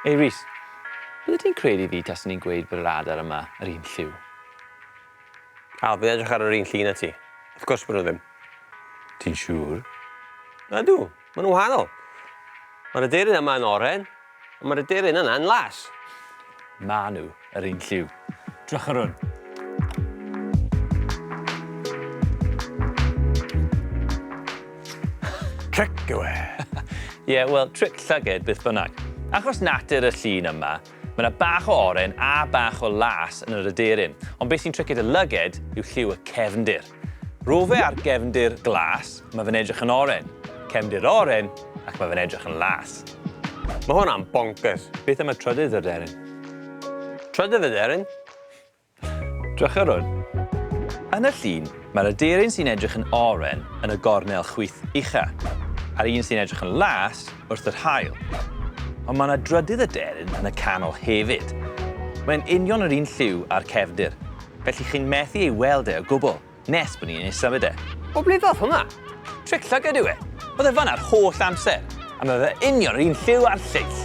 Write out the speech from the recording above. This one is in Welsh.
Ei Rhys, bydde ti'n credu fi taswn i'n gweud bod yr adar yma yr un lliw? Al, fi'n edrych ar yr un llun a ti. Wrth gwrs bod nhw ddim. Ti'n siŵr? Ydw. Maen nhw'n wahanol. Mae'r aderyn yma yn oren, ond mae'r aderyn yna yn las. Maen nhw yr un lliw. Drychwch ar hwn. Tric yw e. Ie, yeah, wel, tric llyged beth bynnag. Achos natur y llun yma, Mae yna bach o oren a bach o las yn yr aderyn, ond beth sy'n triced y lyged yw lliw y cefndir. Rofe ar gefndir glas, mae fe'n edrych yn oren. Cefndir oren, ac mae fe'n edrych yn las. Mae hwnna'n bonkers. Beth am y trydydd aderyn? Trydydd aderyn? Drychyrwn. Yn y llun, mae'r aderyn sy'n edrych yn oren yn y gornel chwith ucha, a'r un sy'n edrych yn las wrth yr haul. Ond mae yna drydydd aderyn yn y canol hefyd. Mae'n union yr un lliw â'r cefndir. Felly chi'n methu ei weld e o gwbl, nes bod ni'n isa fyd e. O ble ddath hwnna? Tric llygad yw e. Oedd e fan'na yr holl amser. A mae fe union yr un lliw a'r lleill.